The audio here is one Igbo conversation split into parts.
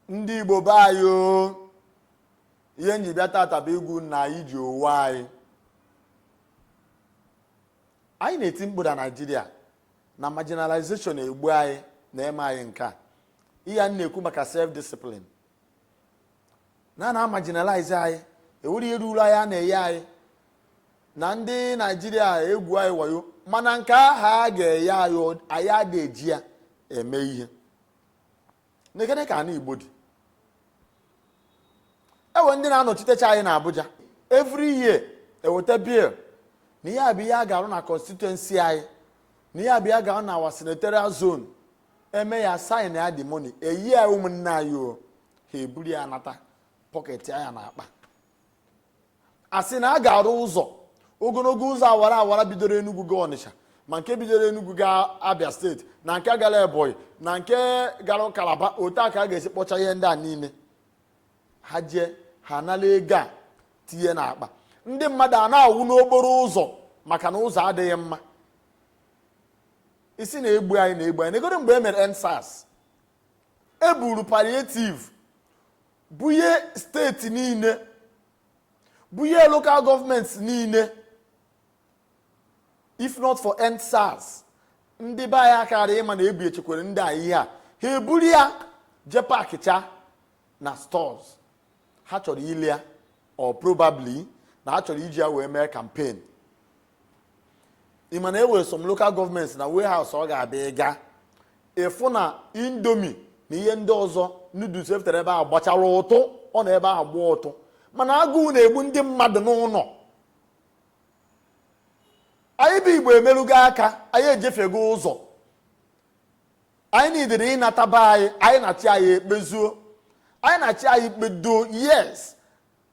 ndị igbo be anyị o ihe m ji bịa tata bụ ịgwa unu na anyị ji onwe anyị anyị na-eti mkpu na naijiria na marginalization egbu anyị na-eme anyị nke a ihe a na-ekwu maka self discipline na a na-amarginalize anyị e nwere ihe ruru anyị a na-enye anyị na ndị naijiria egwu anyị wayo mana nke aha a ga-enye anyị anyị adịghị eji ya eme ihe nekene ka ana igbo dị e nwe ndị na-anọchitecha anyị na abuja every year e weta bill na ihe a bụ ihe a ga-arụ na constituency anyị na ihe a bụ ihe a ga-arụ na our senatorial zone e mee ya sign ya the money e nye ya ụmụnne anyị o ha eburu ya nata pọketịa ya n'akpa a sị na a ga-arụ ụzọ ogologo ụzọ awara awara bidoro Enugu gaa Ọnịcha ma nke bidoro Enugu gaa Abia steeti na nke gara Ebonyi na nke gara Kalaba otu a ka a ga-esi kpọcha ihe ndị a niile ha jee ha anala ego a tinye n'akpa ndị mmadụ ana-anwụ n'okporo ụzọ maka na ụzọ adịghị mma ị sị na-egbu anyị na-egbu anyị negodu mgbe e mere End SARS e buru palliative bunye steeti niile bunye local gọọmenti niile if not for end SARS ndị be anyị akara ịma na e bunyechakwara ndị a ihe a ha eburu ya jee packịcha na stores ha chọrọ ile ya or probably na ha chọrọ iji ya wee mee campaign ị ma na e nwere some local gọọmenti na warehouse ọ ga-abịa ị ga ịfụ na Indomie na ihe ndị ọzọ noodles e butere ebe ahụ gbachara ụtụ ọ nọ ebe ahụ gbaa ụtụ mana agụụ na-egbu ndị mmadụ n'ụlọ anyị bụ igbo emerụgo aka anyị ejefiego ụzọ anyị needịrị ịnataba anyị anyị na-achị anyị ekpezuo anyị na-achị anyị kpedo yes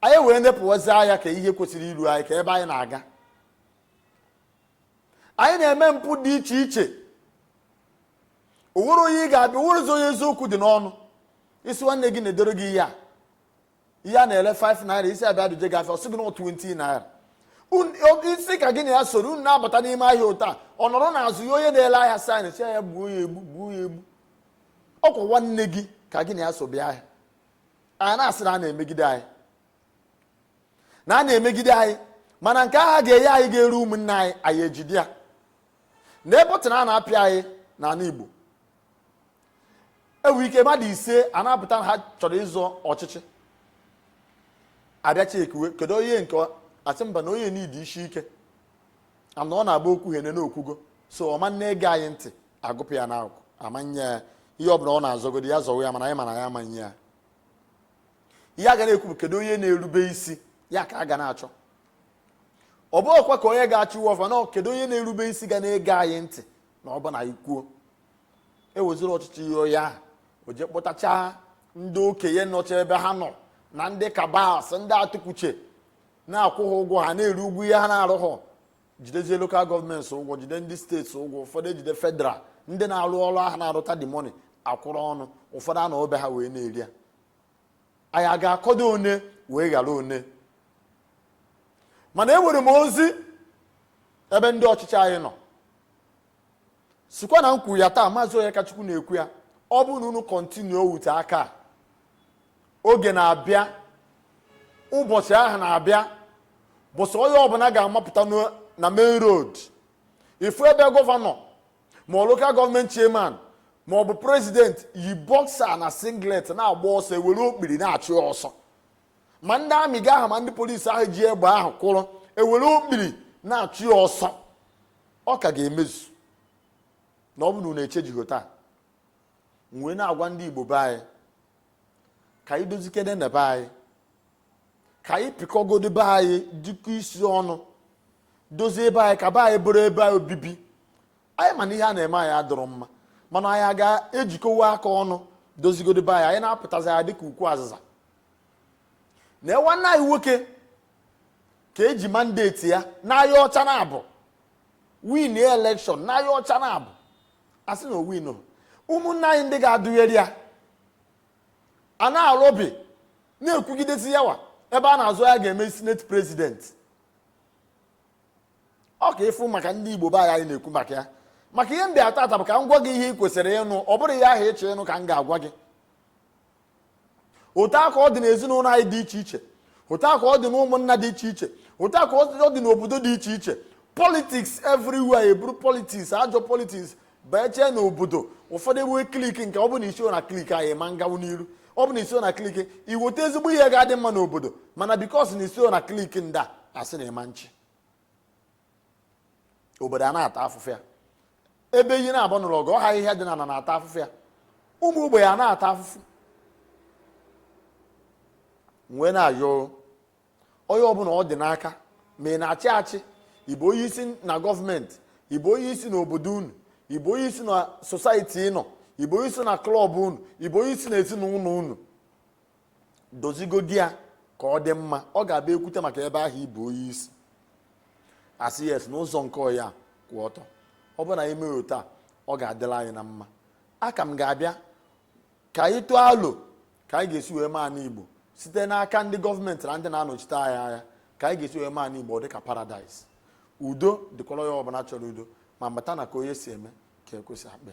anyị wee nepụwazi anya ka ihe kwesịrị iru anyị ka ebe anyị na-aga anyị na-eme mpụ dị iche iche o nwere onye ị ga-abịa o nwerezi onye eziokwu dị n'ọnụ ị sị nwanne gị na-edoro gị ihe a ihe a na-ele 5 naira ị sị ya bịa duje gị afịa ọ sị gị na 20 naira ị sị ka gị na ya soro unu na-abata n'ime ahịa ụta ọ nọrọ n'azụ nye onye na-ele ahịa sign sị ya gbuo ya egbu gbuo ya egbu ọ kwa nwanne gị ka gị na ya so bịa ahịa anyị na-asị na a na-emegide anyị na a na-emegide anyị mana nke aha a ga-enye anyị ga-eru ụmụnne anyị anyị ejide ya na button a na-apị anyị n'ala Igbo e nwee ike mmadụ ise ana-apụta ha chọrọ ịzọ ọchịchị a bịachaa e kiwe kedu onye nke a sị mba na onye niidi isi ike ana ọ na-agba okwu hene n'okwugo so ọ ma na-ege anyị ntị agụpụ ya na akụ ama nye ya ihe ọ bụla ọ na-azọgodi ya zọwa ya mana anyị ma na ya ama nye ya ihe a ga na-ekwu bụ kedu onye na-erube isi ya ka a ga na-achọ ọ bụ ọkwa ka onye ga-achọ iwe ọfa na kedu onye na-erube isi ga na-ege anyị ntị na ọ bụ na anyị kwuo eweziri ọchịchị nye onye ahụ o je kpọtachaa ndị okenye nọcha ebe ha nọ na ndị kabals ndị atụkwuche na-akwụ ha ụgwọ ha na-eri ụgwọ ihe ha na-arụhụ jidezie lokal gọọmenti ụgwọ jide ndị steeti ụgwọ ụfọdụ ejide federal ndị na-arụ ọrụ ahụ na-arụta the money akwụrụ ọnụ ụfọdụ anọọ be ha wee na-eri ya anyị a ga-akọdụ one wee ghara one mana enwere m ozi ebe ndị ọchịchị anyị nọ sịkwa na m kwuru ya taa maazị Onyekachukwu na-ekwu ya ọ bụrụ na unu kọntinuo wute aka oge na-abịa ụbọchị ahụ na-abịa bụsị onye ọbụla ga-amapụta na main road ịfụ ebe gọvanọ ma lokal gọọmenti chairman ma ọ bụ prezident yi bọksa na singlet na-agba ọsọ ewere okpiri na-achụ ha ọsọ ma ndị amị ga ahụ ma ndị polisi ahụ ji egbe ahụ kwụrụ ewere okpiri na-achụ ha ọsọ ọ ka ga-emezu na ọ bụ na unu echenjighị taa m wee na-agwa ndị igbo be anyị ka anyị dozikenenụ be anyị ka anyị pịkọgodu be anyị tikọ isi ọnụ dozie be anyị ka be anyị bụrụ ebe obibi anyị ma na ihe a na-eme anyị adịrọ mma mana anyị ga-ejikọwa aka ọnụ dozigodi be anyị anyị na-apụtazi dịka ukwu azịza na nwanna anyị nwoke ka eji mandate ya n'anya ọcha na abụ win elekshọn n'anya ọcha na abụ asị na o win ụmụnna anyị ndị ga-adụnyere ya a na-alụ obi na-ekwugidezi yawa ebe a na-azọ onye ga-eme senate president ọ ka ịfụ maka ndị igbo be anyị na-ekwu maka ya maka ihe m bịa tata bụ ka m gwa gị ihe ị kwesịrị ịnụ ọ bụrọ ihe ahụ ịchọ ịnụ ka m ga-agwa gị otu a ka ọ dị n'ezinụlọ anyị dị iche iche otu a ka ọ dị n'ụmụnna dị iche iche otu a ka ọ dị n'obodo dị iche iche politiks everywhere eburu politiks ajọ politiks bachee na obodo ụfọdụ enwee kliki nke ọ bụ na isiho na kliki anyị ma ngawu n'iru ọ bụ na isiho na kliki iweta ezigbo ihe ga-adị mma n'obodo mana because na isiho na kliki ndị a asị na ị ma nchị obodo a na-ata afụfụ ya ebe enyi naabọ nụrụ ọgụ ọ ahịhịa dị n'ana na-ata afụfụ ya ụmụ ogbenye a na-ata afụfụ m wee na-ayọ onye ọbụla ọ dị n'aka ma ị na-achị achị ịbụ onye isi na gọọmenti ịbụ onye isi na obodo unu ịbụ onye isi na sosaiti ịnọ ịbụ onye isi na klọb unu ịbụ onye isi na ezinụlọ unu dozigodi ya ka ọ dị mma ọ ga-abụ e kwute maka ebe ahụ ịbụ onye isi a sị yes n'ụzọ nke ọ ya-akwụ ọtọ ọ bụrụ na anyị mere otu a ọ ga-adịlị anyị na mma aka m ga-abịa ka anyị tụọ alo ka anyị ga-esi wee mee ana igbo site n'aka ndị gọọmenti na ndị na-anọchite anyị anya ka anyị ga-esi wee mee ana igbo dị ka paradaịs udo dịkwara onye ọbụla chọrọ udo ma mata na ka onye si eme ka ekwesị akpa